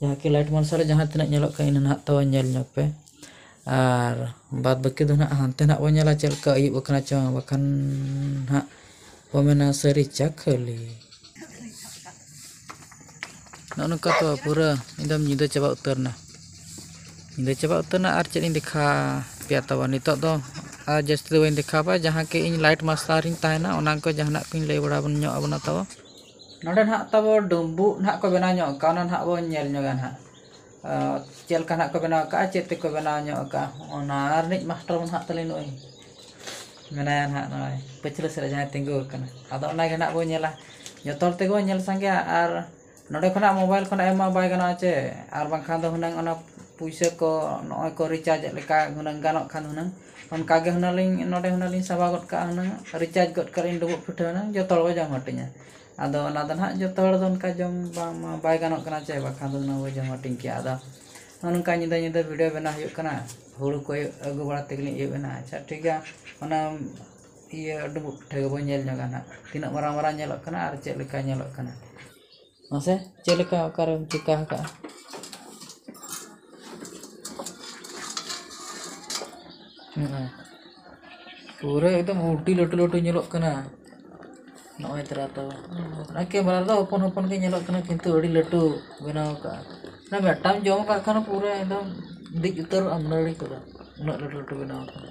ᱡᱟᱦᱟᱸ ᱠᱤ ᱞᱟᱭᱤᱴ ᱢᱟᱨᱥᱟᱞ ᱨᱮ ᱡᱟᱦᱟᱸ ᱛᱤᱱᱟᱹᱜ ᱧᱮᱞᱚᱜ ᱠᱟᱱᱟ ᱤᱱᱟᱹ ᱱᱟᱦᱟᱜ ᱛᱟᱵᱚᱱ ᱧᱮᱞ ᱧᱚᱜᱽ ᱯᱮ ᱟᱨ ᱵᱟᱫᱽ ᱵᱟᱹᱠᱤ ᱫᱚ ᱱᱟᱦᱟᱜ ᱦᱟᱱᱛᱮ ᱱᱟᱦᱟᱜ ᱵᱚᱱ ᱧᱮᱞᱟ ᱪᱮᱫ ᱞᱮᱠᱟ ᱟᱹᱭᱩᱵ ᱟᱠᱟᱱᱟ ᱥᱮ ᱵᱟᱝ ᱵᱟᱠᱷᱟᱱ ᱱᱟᱦᱟᱜ ᱠᱚ ᱢᱮᱱᱟ ᱥᱟᱹᱨᱤ ᱪᱟ ᱠᱷᱟᱹᱞᱤ ᱱᱚᱜᱼᱚ ᱱᱚᱝᱠᱟ ᱛᱚ ᱯᱩᱨᱟᱹ ᱮᱠᱫᱚᱢ ᱧᱤᱫᱟᱹ ᱪᱟᱵᱟ ᱩᱛᱟᱹᱨ ᱮᱱᱟ ᱧᱤᱫᱟᱹ ᱪᱟᱵᱟ ᱩᱛᱟᱹᱨ ᱮᱱᱟ ᱟᱨ ᱪᱮᱫ ᱤᱧ ᱫᱮᱠᱷᱟ ᱯᱮᱭᱟ ᱛᱟᱵᱚᱱ ᱱᱤᱛᱚᱜ ᱫᱚ ᱟᱨ ᱡᱟᱹᱥᱛᱤ ᱫᱚ ᱵᱟᱹᱧ ᱫᱮᱠᱷᱟᱣ ᱯᱮᱭᱟ ᱡᱟᱦᱟᱸ ᱠᱤ ᱤᱧ ᱞᱟᱭᱤᱴ ᱢᱟᱨᱥᱟᱞ ᱨᱤᱧ ᱛᱟᱦᱮᱱᱟ ᱚᱱᱟ ᱠᱚ ᱡᱟᱦᱟᱱᱟᱜ ᱠᱚᱧ ᱞᱟᱹᱭ ᱵᱟᱲᱟ ᱧᱚᱜ ᱟᱵᱚᱱᱟ ᱛᱟᱵᱚᱱ ᱱᱚᱸᱰᱮ ᱱᱟᱦᱟᱜ ᱛᱟᱵᱚ ᱰᱩᱢᱵᱩᱜ ᱱᱟᱦᱟᱜ ᱠᱚ ᱵᱮᱱᱟᱣ ᱧᱚᱜ ᱠᱟᱜᱼᱟ ᱚᱱᱟ ᱱᱟᱦᱟᱜ ᱵᱚᱱ ᱧᱮᱞ ᱧᱚᱜᱟ ᱱᱟᱦᱟᱜ ᱪᱮᱫ ᱞᱮᱠᱟ ᱱᱟᱦᱟᱜ ᱠᱚ ᱵᱮᱱᱟᱣ ᱠᱟᱜᱼᱟ ᱪᱮᱫ ᱛᱮᱠᱚ ᱵᱮᱱᱟᱣ ᱧᱚᱜ ᱠᱟᱜᱼᱟ ᱚᱱᱟ ᱨᱤᱱᱤᱡ ᱢᱟᱥᱴᱟᱨ ᱢᱟ ᱱᱟᱦᱟᱜ ᱛᱟᱹᱞᱤᱧ ᱱᱩᱜᱼᱩᱭ ᱢᱮᱱᱟᱭᱟ ᱱᱟᱦᱟᱜ ᱱᱚᱜᱼᱚᱭ ᱯᱟᱹᱪᱷᱞᱟᱹ ᱥᱮᱫ ᱨᱮ ᱡᱟᱦᱟᱸᱭ ᱛᱤᱸᱜᱩ ᱟᱠᱟᱱᱟ ᱟᱫᱚ ᱚᱱᱟ ᱜᱮ ᱱᱟᱦᱟᱜ ᱵᱚᱱ ᱧᱮᱞᱟ ᱡᱚᱛᱚ ᱦᱚᱲ ᱛᱮᱜᱮ ᱵᱚᱱ ᱧᱮᱞ ᱥᱟᱸᱜᱮᱭᱟ ᱟᱨ ᱱᱚᱸᱰᱮ ᱠᱷᱚᱱᱟᱜ ᱢᱳᱵᱟᱭᱤᱞ ᱠᱷᱚᱱᱟᱜ ᱮᱢ ᱢᱟ ᱵᱟᱭ ᱜᱟᱱᱚᱜᱼᱟ ᱪᱮ ᱟᱨ ᱵᱟᱝᱠᱷᱟᱱ ᱫᱚ ᱦᱩᱱᱟᱹᱝ ᱚᱱᱟ ᱯᱩᱭᱥᱟᱹ ᱠᱚ ᱱᱚᱜᱼᱚᱭ ᱠᱚ ᱨᱤᱪᱟᱨᱡᱽ ᱮᱫ ᱞᱮᱠᱟ ᱦᱩᱱᱟᱹᱝ ᱜᱟᱱᱚᱜ ᱠᱷᱟᱱ ᱦᱩᱱᱟᱹᱝ ᱚᱱᱠᱟ ᱜᱮ ᱦᱩᱱᱟᱹᱝ ᱞᱤᱧ ᱱᱚᱰᱮ ᱦᱩᱱᱟᱹᱝ ᱞᱤᱧ ᱥᱟᱵᱟᱣ ᱜᱚᱫ ᱠᱟᱜᱼᱟ ᱦᱩᱱᱟᱹᱝ ᱨᱤᱪᱟᱨᱡᱽ ᱜᱚᱫ ᱠᱟᱜᱼᱟ ᱞᱤᱧ ᱰᱩᱸᱵᱩᱜ ᱯᱤᱴᱷᱟᱹ ᱦᱩᱱᱟᱹᱝ ᱡᱚᱛᱚ ᱦᱚᱲ ᱵᱚᱱ ᱡᱚᱢ ᱦᱟᱹᱴᱤᱧᱟ ᱟᱫᱚ ᱚᱱᱟ ᱫᱚ ᱦᱟᱸᱜ ᱡᱚᱛᱚ ᱦᱚᱲ ᱫᱚ ᱚᱱᱠᱟ ᱡᱚᱢ ᱵᱟᱝ ᱢᱟ ᱵᱟᱭ ᱜᱟᱱᱚᱜ ᱠᱟᱱᱟ ᱥᱮ ᱵᱟᱠᱷᱟᱱ ᱫᱚ ᱦᱩᱱᱟᱹᱝ ᱵᱚᱱ ᱡᱚᱢ ᱦᱟᱹᱴᱤᱧ ᱠᱮᱭᱟ ᱟᱫᱚ ᱱᱚᱜᱼᱚ ᱱᱚᱝᱠᱟ ᱧᱤᱫᱟᱹ ᱧᱤᱫᱟᱹ ᱵᱷᱤᱰᱤᱭᱳ ᱵᱮᱱᱟᱣ ᱦᱩᱭᱩᱜ ᱠᱟᱱᱟ ᱦᱩᱲᱩ ᱠᱚ ᱟᱹᱜᱩ ᱵᱟᱲᱟ ᱛᱮᱜᱮ ᱞᱤᱧ ᱟᱹᱭᱩᱵ ᱮᱱᱟ ᱟᱪᱪᱷᱟ ᱴᱷᱤᱠ ᱜᱮᱭᱟ ᱚᱱᱟ ᱤᱭᱟᱹ ᱰᱩᱸᱵᱩᱜ ᱯᱤᱴᱷᱟᱹ ᱜᱮᱵᱚᱱ ᱧᱮᱞ ᱧᱚᱜᱟ ᱦᱟᱸᱜ ᱛᱤᱱᱟᱹᱜ ᱢᱟᱨᱟᱝ ᱢᱟᱨᱟᱝ ᱧᱮᱞᱚᱜ ᱠᱟᱱᱟ ᱟᱨ ᱪᱮᱫ ᱞᱮᱠᱟ ᱧᱮᱞᱚᱜ ᱠᱟᱱᱟ ᱢᱟᱥᱮ ᱪᱮᱫ ᱞᱮᱠᱟ ᱚᱠᱟᱨᱮᱢ ᱪᱤᱠᱟᱹ ᱟᱠᱟᱫᱼᱟ ᱯᱩᱨᱟᱹ ᱮᱠᱫᱚᱢ ᱟᱹᱰᱤ ᱞᱟᱹᱴᱩ ᱞᱟᱹᱴᱩ ᱧᱮᱞᱚᱜ ᱠᱟᱱᱟ ᱱᱚᱜᱼᱚᱭ ᱛᱚᱨᱟ ᱛᱚ ᱚᱱᱟ ᱠᱮᱢᱮᱨᱟ ᱨᱮᱫᱚ ᱦᱚᱯᱚᱱ ᱦᱚᱯᱚᱱ ᱜᱮ ᱧᱮᱞᱚᱜ ᱠᱟᱱᱟ ᱠᱤᱱᱛᱩ ᱟᱹᱰᱤ ᱞᱟᱹᱴᱩ ᱵᱮᱱᱟᱣ ᱟᱠᱟᱫᱼᱟ ᱚᱱᱟ ᱢᱤᱫᱴᱟᱝ ᱡᱚᱢ ᱟᱠᱟᱫ ᱠᱷᱟᱱ ᱯᱩᱨᱟᱹ ᱮᱠᱫᱚᱢ ᱫᱮᱡ ᱩᱛᱟᱹᱨᱚᱜᱼᱟᱢ ᱱᱟᱹᱲᱤ ᱠᱚᱫᱚ ᱩᱱᱟᱹᱜ ᱞᱟᱹᱴᱩ ᱞᱟᱹᱴᱩ ᱵᱮᱱᱟᱣ ᱟᱠᱟᱱᱟ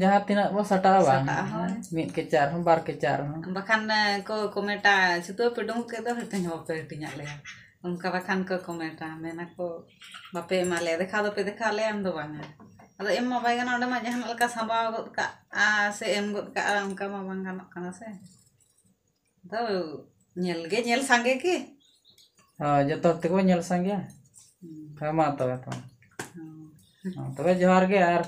ᱡᱟᱦᱟᱸ ᱛᱤᱱᱟᱹᱜ ᱵᱚ ᱥᱟᱴᱟᱜᱼᱟ ᱵᱟᱝ ᱢᱤᱫ ᱠᱮᱪᱟᱜ ᱨᱮᱦᱚᱸ ᱵᱟᱨ ᱠᱮᱪᱟᱜ ᱨᱮᱦᱚᱸ ᱵᱟᱠᱷᱟᱱ ᱠᱚ ᱠᱚᱢᱮᱴᱟ ᱪᱷᱩᱛᱩ ᱯᱮ ᱰᱩᱢᱵᱩᱜ ᱠᱮᱫ ᱫᱚ ᱦᱟᱹᱴᱤᱧ ᱦᱚᱸ ᱵᱟᱯᱮ ᱦᱟᱹᱴᱤᱧᱟᱜ ᱞᱮᱭᱟ ᱚᱱᱠᱟ ᱵᱟᱠᱷᱟᱱ ᱠᱚ ᱠᱚᱢᱮᱴᱟ ᱢᱮᱱᱟᱠᱚ ᱵᱟᱯᱮ ᱮᱢᱟ ᱞᱮᱭᱟ ᱫᱮᱠᱷᱟᱣ ᱫᱚᱯᱮ ᱫᱮᱠᱷᱟᱣ ᱞᱮᱭᱟ ᱮᱢ ᱫᱚ ᱵᱟᱝᱟ ᱟᱫᱚ ᱮᱢ ᱢᱟ ᱵᱟᱭ ᱜᱟᱱᱚᱜᱼᱟ ᱚᱸᱰᱮ ᱢᱟ ᱡᱟᱦᱟᱱᱟᱜ ᱞᱮᱠᱟ ᱥᱟᱢᱵᱟᱣ ᱜᱚᱫ ᱠᱟᱜᱼᱟ ᱥᱮ ᱮᱢ ᱜᱚᱫ ᱠᱟᱜᱼᱟ ᱚᱱᱠᱟ ᱢᱟ ᱵᱟᱝ ᱜᱟᱱᱚᱜ ᱠᱟᱱᱟ ᱥᱮ ᱫᱚ ᱧᱮᱞ ᱜᱮ ᱧᱮᱞ ᱥᱟᱸᱜᱮ ᱜᱮ ᱦᱳᱭ ᱡᱚᱛᱚ ᱦᱚᱲ ᱛᱮᱠᱚ ᱧᱮᱞ ᱥᱟᱸᱜᱮᱭᱟ ᱦᱮᱸ ᱢᱟ ᱛᱚᱵᱮ ᱛᱚ ᱛᱚᱵᱮ ᱡᱚᱦᱟᱨ ᱜᱮ ᱟᱨ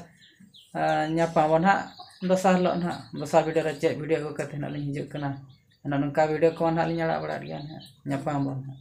ᱧᱟᱯᱟᱢ ᱟᱵᱚᱱ ᱦᱟᱸᱜ ᱫᱚᱥᱟᱨ ᱦᱤᱞᱳᱜ ᱦᱟᱸᱜ ᱫᱚᱥᱟᱨ ᱵᱷᱤᱰᱤᱭᱳ ᱨᱮ ᱪᱮᱫ ᱵᱷᱤᱰᱤᱭᱳ ᱟᱹᱜᱩ ᱠᱟᱛᱮᱫ ᱦᱟᱸᱜ ᱞᱤᱧ ᱦᱤᱡᱩᱜ ᱠᱟᱱᱟ ᱚᱱᱮ ᱱᱚᱝᱠᱟ ᱵᱷᱤᱰᱤᱭᱳ ᱠᱚ ᱦᱟᱸᱜ ᱞᱤᱧ ᱟᱲᱟᱜ ᱵᱟᱲᱟᱭᱮᱫ ᱜᱮᱭᱟ ᱦᱟᱸᱜ ᱧᱟᱯᱟᱢ ᱟᱵᱚᱱ ᱦᱟᱸᱜ